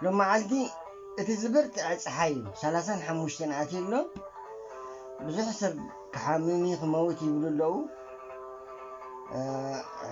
ሎማዓልቲ እቲ ዝብርትዐ ጸሓይ እዩ ሰላሳን ሓሙሽተን ኣትዩ ኣሎ ብዙሕ ሰብ ክሓምም እዩ ክመውት ይብሉ ኣለው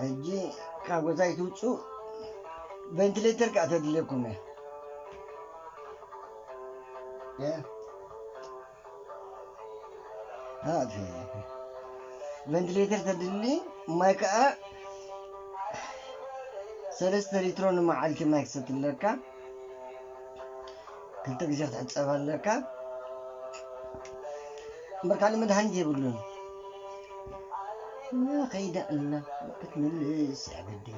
ሕጂ ካብ ገዛ ኣይትውጽኡ ቬንትሌተር ከዓ ተድልየኩም እያ ቨንትሌተር ተድሊ ማይ ከዓ ሰለስተ ሊትሮ ንመዓልቲ ማይ ክሰቲ ኣለካ ክልተ ግዜ ክትሕፀብ ኣለካ እምበር ካልእ መድሃኒት የብሉን ከይዳ ኣላ ክትምልስ ኣገደይ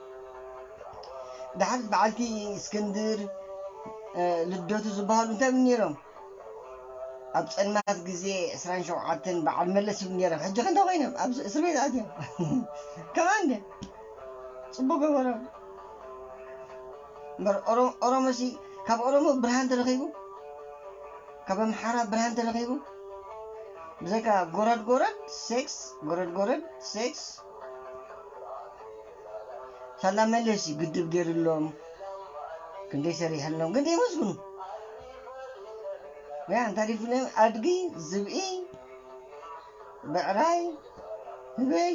ደሓር በዓልቲ እስክንድር ልደቱ ዝበሃሉ እንታይ ብ ነይሮም ኣብ ጸልማት ግዜ ዕስራን ሸውዓተን በዓል መለስ ብ ነይሮም ሕጂ ከንታ ኮይኖም ኣብ እስር ቤት ኣትዮም ከምኣ እንደ ጽቡቅ ገበሮም እምበር ኦሮሞሲ ካብ ኦሮሞ ብርሃን ተረኺቡ ካብ ኣምሓራ ብርሃን ተረኺቡ ብዘይካ ጎረድ ጎረድ ሴክስ ጎረድ ጎረድ ሴክስ ሳላ መለስ እዩ ግድብ ገይርሎም ክንደይ ሰሪሕሎም ግን ደየመስግኑ ያ እንታይ ዲፍሎም ኣድጊ ዝብኢ ብዕራይ ህበይ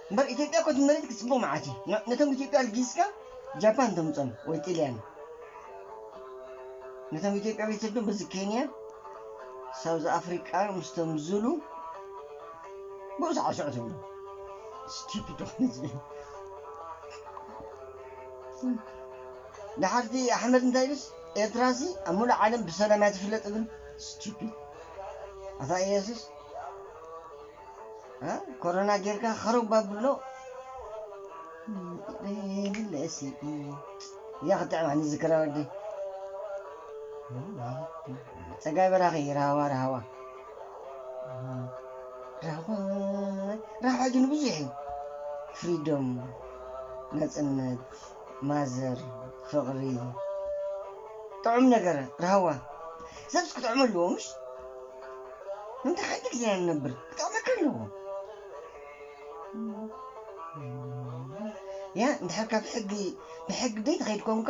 እምበር ኢትዮጵያ እኮ እቲ መሬት ክፅቡቕ መዓት እዩ ን- ነቶም ኢትዮጵያ ኣልጊስካ ጃፓን ተምፆም ወይ ጥልያን ነቶም ኢትዮጵያ ቤተሰብቶም በዚ ኬንያ ሳውዝ ኣፍሪቃ ምስቶም ዙሉ ብኡ ሳዕስዑ ትብሉ ስቲፒዶ ህዝቢ ደሓር እቲ ኣሕመድ እንታይ ኢሉስ ኤርትራሲ ኣብ ሙሉእ ዓለም ብሰላም እያ ትፍለጥ እብል ስቲፒድ ኣታ ኢየሱስ ኮሮና ጌርካ ከረባ ብሎ ይብለ እሲ እያ ክትጥዕም ኣነ ዝክራ ወዲ ጸጋይ በራኺ ራህዋ ራህዋ ራህዋ ራህዋ ግን ብዙሕ እዩ ፍሪዶም ነጽነት ማዘር ፍቕሪ ጥዑም ነገር ራህዋ ሰብስ ክጥዕሙ ኣለዎ ምሽ እንተ ሓንቲ ግዜ ኢና ንነብር ክጥዕመካ ኣለዎ ያ እንድሕር ካብ ሕጊ ብሕጊ ደይ ተኸይድ ኮንካ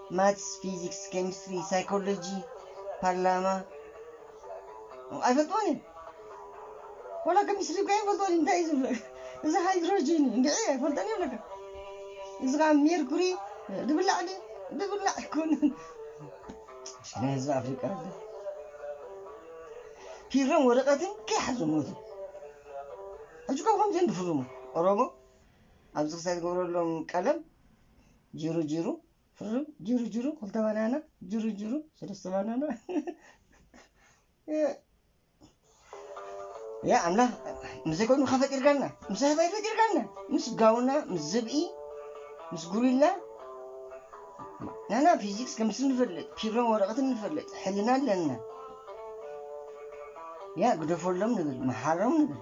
ማትስ ፊዚክስ ኬሚስትሪ ሳይኮሎጂ ፓርላማ ኣይፈልጥዎን እየ ዋላ ኬሚስትሪ እኮ ኣይፈልጥዎን እንታይ እዩ ዝብሎ እዚ ሃይድሮጂን እዩ እንድዒ ኣይፈልጦን እየ ብለካ እዚ ከዓ ሜርኩሪ ድብላዕ ድዩ ድብላዕ ኣይኮነን ሽነ ህዝቢ ኣፍሪቃ ኣለ ፒሮን ወረቀትን ከይሓዙ ሞቱ ሕጂ ካብ ከምዚኦም ድፍርሙ ኦሮሞ ኣብዚ ክሳይ ዝገብረሎም ቀለም ጅሩ ጅሩ ፍርም ጅሩ ጅሩ ክልተ ባናና ጅሩ ጅሩ ሰለስተ ባናና ያ ኣምላኽ ምስዘይ ኮይኑ ካ ፈጢርካና ምስ ኣህባይ ፈጢርካና ምስ ጋውና ምስ ዝብኢ ምስ ጉሪላ ናና ፊዚክስ ከምስ ንፈልጥ ፒሮን ወረቐትን ንፈልጥ ሕልና ኣለና ያ ግደፈሎም ንብል መሓሮም ንብል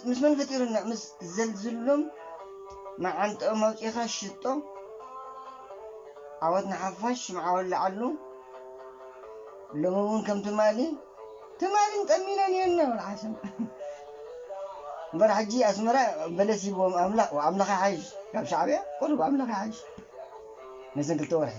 ምስ መን ፈጢሩና ምስ ዘልዝሉም መዓንጥኦም ኣውጺኻ ሽጦ ዓወት ንሓፋሽ ሽምዓ ወላዓሉ ሎሚ እውን ከም ትማሊ ትማሊን ጠሚነን እየን እናበልዓሰን እምበር ሕጂ ኣስመራ በለስ ሂብዎም ኣምላኽ ኣምላኽ ይሓይሽ ካብ ሻዕብያ ቁሩብ ኣምላኽ ይሓይሽ ነዘን ክልተ ወርሒ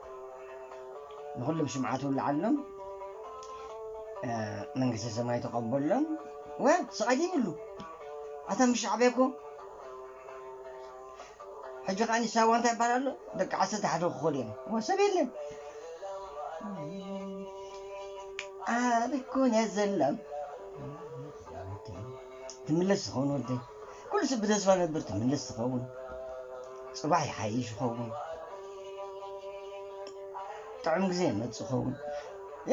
ንኹሎም ሽምዓት ውልዓሎም መንግስተ ሰማይ ተቐበሎም ወ ስቓይ ዘይብሉ ኣታ ምስ ሻዕብያ እኮ ሕጂ ከዓ ንሳዋ እንታይ ይበሃል ኣሎ ደቂ ዓሰርተ ሓደ ክኾኑ እዮም ወ ሰብ የለን ኣበይ ኮን እያ ዘላ ትምለስ ትኸውን ወደይ ኩሉ ስብ ብተስፋ ነብር ትምለስ ትኸውን ጽባሕ ይሓይሽ ይኸውን ጥዑም ግዜ ይመጽእ ይኸውን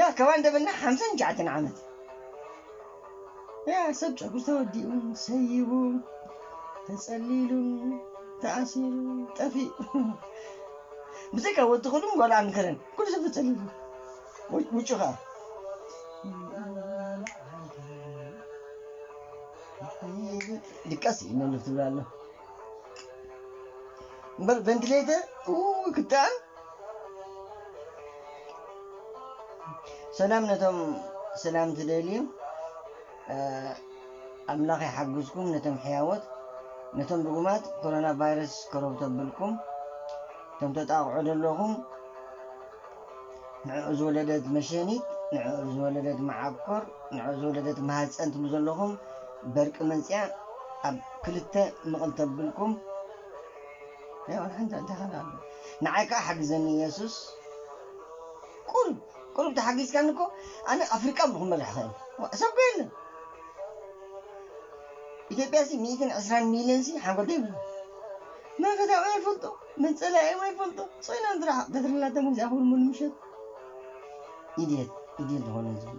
ያ ካብ ኣንደበና ሓምሳን ትሽዓተን ዓመት ያ ሰብ ጨጉሪ ተወዲኡ ሰይቡ ተጸሊሉ ተኣሲሩ ጠፊኡ ብዘይካ ወዲ ክሉን ጓል ኣምከረን ኩሉ ሰብ ተጸሊሉ ወይ ውጭኻ ድቀስ ይነልፍ ትብል ኣሎ እምበር ቨንቲሌተር ክጣዕም ሰላም ነቶም ሰላም ትደልዩ ኣምላኽ ይሓግዝኩም ነቶም ሕያወት ነቶም ድጉማት ኮሮና ቫይረስ ከረብ ተብልኩም እቶም ተጣቕዑ ዘለኹም ንዕኡ ዝወለደት መሸኒት፣ ንዕኡ ዝወለደት መዓኮር፣ ንዕኡ ዝወለደት ማህጸን ትብሉ ዘለኹም በርቂ መጺኣ ኣብ ክልተ ምቕል ተብልኩም፣ ያው ንሓንቲ ኣደ ኸኣ ኣሎ ንዓይ ከኣ ሓግዘኒ የሱስ ቁሩብ ቁሩብ ተሓጊዝካኒ እኮ ኣነ ኣፍሪቃ እሞ ክመርሕ ኸእል ዋእ ሰብ ኮ የለን ኢትዮጵያ ሲ ሚእትን ዕስራን ሚልዮን ሲ ሓንጎል ዶ የብሉን መለኮታዊ ኣይፈልጡ መጸለኣዮም ኣይፈልጡ ጾይኖም ጥራሕ በትሪ ናቶም ግዜ ኣኽብሩ ሙሉ ምሸት ኢድየት ኢድየት ዝኾነ ህዝቢ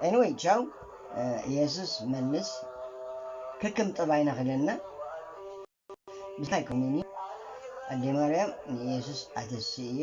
ኤኒወይ ቻው ኢየሱስ መልስ ከከም ጠባይና ክለና ብዝታይ ኮሚኒ ኣዴ ማርያም ንኢየሱስ ኣተስእዮ